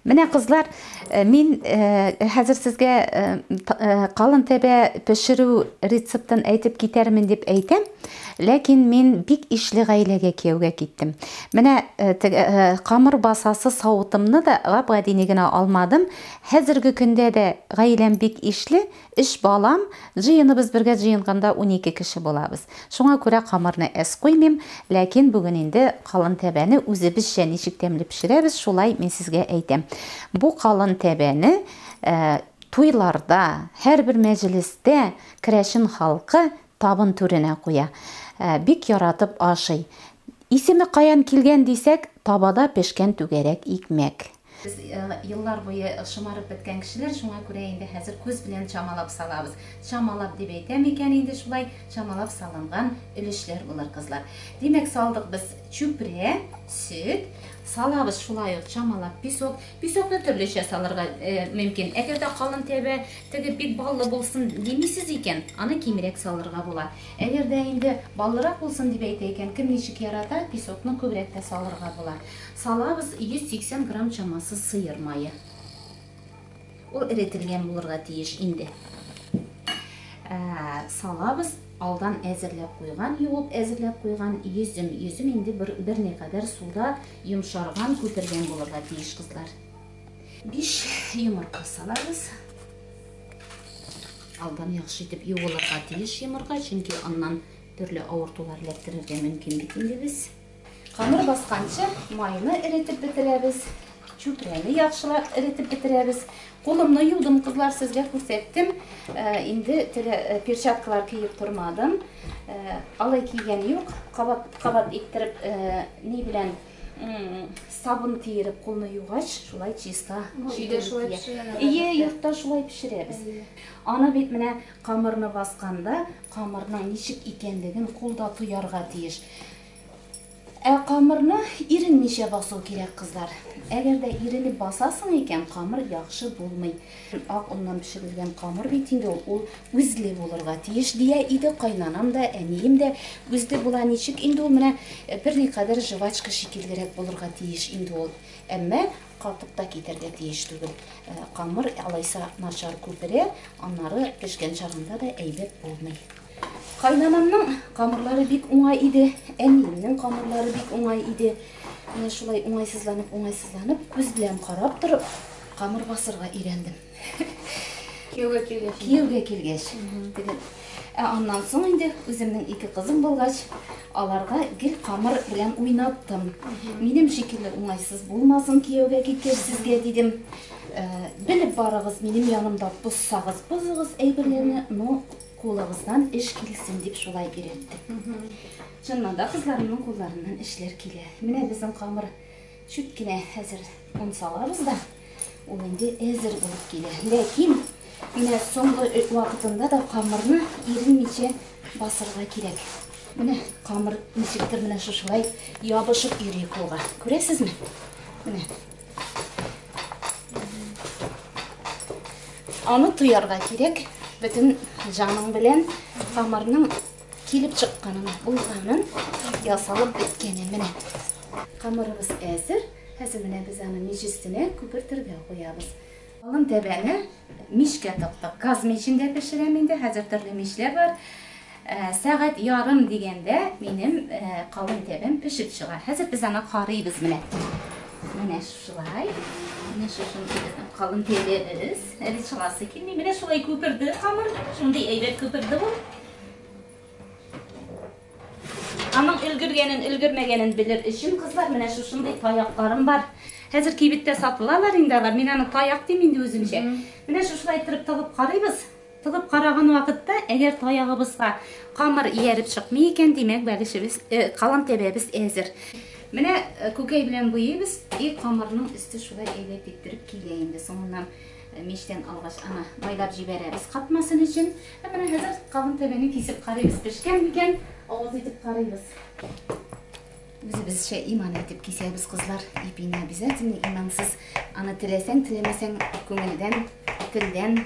Менә кызлар, мин хәзер сезгә калын тәбә пешерү рецептын әйтеп китәрмен дип әйтәм, ләкин мин бик ишле гаиләгә кияүгә киттем. Менә теге камыр басасы савытымны да гап-гадине генә алмадым. Хәзерге көндә дә гаиләм бик ишле, Өч балам, җыеныбыз бергә җыенганда унике кеше булабыз. Шуңа күрә камырны әз куймыйм, ләкин бүген инде калын тәбәне үзебезчә ничек тәмле пешерәбез, шулай мин сезгә әйтәм. Бу калын тәбәне туйларда, һәрбер мәҗлестә керәшен халкы табын түренә куя. Бик яратып ашый. Исеме каян килгән дисәк, табада пешкән түгәрәк икмәк. Без еллар буе шомарып беткән кешеләр, шуңа күрә инде хәзер күз белән чамалап салабыз. Чамалап дип әйтәм икән инде шулай, чамалап салынган өлешләр булыр, кызлар. Димәк, салдык без чүпрә, сөт, салабыз шулай ук чамалап песок. Песокны төрлечә салырга мөмкин. Әгәр дә калын тәбә, теге бик баллы булсын димисез икән, аны кимрәк салырга була. Әгәр дә инде баллырак булсын дип әйтә икән, кем ничек ярата, песокны күбрәк тә салырга була. Салабыз 180 грамм чамасы сыер мае. Ул эретелгән булырга тиеш инде. Ә, салабыз алдан әзерләп куйган, юып әзерләп куйган йөзем. Йөзем инде бер, бер не кадәр суда йомшарган, күпергән булырга тиеш, кызлар. Биш йомырка салабыз. Алдан яхшы итеп юылырга тиеш йомырка, чөнки аннан төрле авыртулар эләктерергә мөмкин бит инде без. Камыр басканчы майны эретеп бетерәбез, чүпрәне яхшылап эретеп бетерәбез. Кулымны юдым, кызлар, сезгә күрсәттем. Э, инде э, перчаткалар киеп тормадым. Э, алай кигән юк. Кабат кабат иттереп ни белән сабын киереп кулны югач, шулай чиста. Өйдә шулай пешерәләр. Ие, йортта шулай пешерәбез. Аны бит менә камырны басканда, камырның ничек икәнлеген кулда тоярга тиеш. Ә камырны иренмичә басу кирәк, кызлар. Әгәр дә иренеп басасың икән, камыр яхшы булмый. Ак оннан пешерелгән камыр бит инде ул, ул үзле булырга тиеш, дия иде кайнанам да, әнием дә. Үзле була ничек инде ул, менә берникадәр жвачка шикеллерәк булырга тиеш инде ул. Әмма катып та китәргә тиеш түгел. Камыр алайса начар күперә, аннары пешкән чагында да әйбәт булмый. Кайнанамның камырлары бик уңай иде, әниемнең камырлары бик уңай иде. Менә шулай уңайсызланып, уңайсызланып, күз белән карап торып, камыр басырга өйрәндем. Кияүгә килгәч. Кияүгә килгәч. Ә аннан соң инде үземнең ике кызым булгач, аларга гел камыр белән уйнаттым. Минем шикелле уңайсыз булмасын кияүгә киткәч сезгә дидем. Белеп барыгыз, минем янымда бозсагыз, бозыгыз әйберләрне, но Кулыгыздан эш килсен дип шулай өйрәттем. Чыннан да кызларымның кулларыннан эшләр килә. Менә безнең камыр чүт кенә хәзер он салабыз да, ул инде әзер булып килә. Ләкин менә соңгы вакытында да камырны иренмичә басырга кирәк. Менә камыр ничектер менә шушылай ябышып йөри кулга. Күрәсезме? Менә Аны туярга кирәк, бөтен җаның белән камырның килеп чыкканын, булганын, ясалып беткәнен менә. Камырыбыз әзер. Хәзер менә без аны мич өстенә күпертергә куябыз. Калын тәбәне мичкә тыктык. Газ мичендә пешерәм инде, хәзер төрле мичләр бар. Сәгать ярым дигәндә минем калын тәбәм пешеп чыга. Хәзер без аны карыйбыз менә. Менә шулай. Менә шушы безнең калын тәбәбез. Әле чыгасы килми. Менә шулай күперде камыр. Шундый әйбәт күперде ул. Аның өлгергәнен, өлгермәгәнен белер өчен, кызлар, менә шушындый таякларым бар. Хәзер кибеттә сатылалар инде алар. Мин аны таяк дим инде үземчә. Менә шушылай иттереп тыгып карыйбыз. Тыгып караган вакытта, әгәр таягыбызга камыр ияреп чыкмый икән, димәк, бәлешебез, э, калам тәбәбез әзер. Менә э, күкәй белән буйыйбыз, и камырның өсте шулай әйләп иттереп килә инде соңыннан. Мичтән алгач, аны майлап җибәрәбез катмасын өчен. Ә менә хәзер кабын тәбәне кисеп карыйбыз, пешкән микән, авыз итеп карыйбыз. Үзебезчә иман итеп кисәбез, кызлар. Ипине обязательно имансыз. Аны теләсәң, теләмәсәң, күңелдән, телдән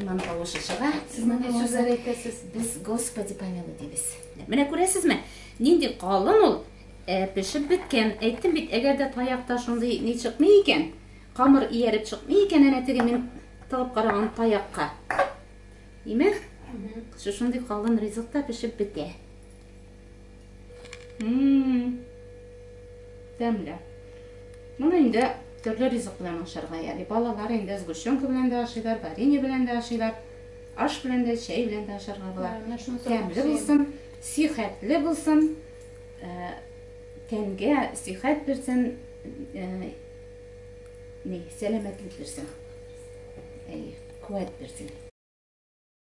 иман тавышы чыга. Сез менә сүзләр әйтәсез. Без Господи помилуй дибез. Менә күрәсезме, нинди калын ул, ә пешеп беткән. Әйттем бит, әгәр дә таякта шундый ни чыкмый икән, Камыр ияреп чыкмый икән әнә теге мин тагып караган таякка. Име? Шушы шундый калын ризыкта пешеп бетә. Мм. Тәмле. Моны инде төрле ризык белән ашарга яли. Балалар инде сгущенка белән дә ашыйлар, варенье белән дә ашыйлар. Аш белән дә, чәй белән дә ашарга була. Тәмле булсын, сихәтле булсын. Э, тәнгә сихәт бирсен. Э, Ни, сәламәтлек бирсен. Әйе, куәт бирсен.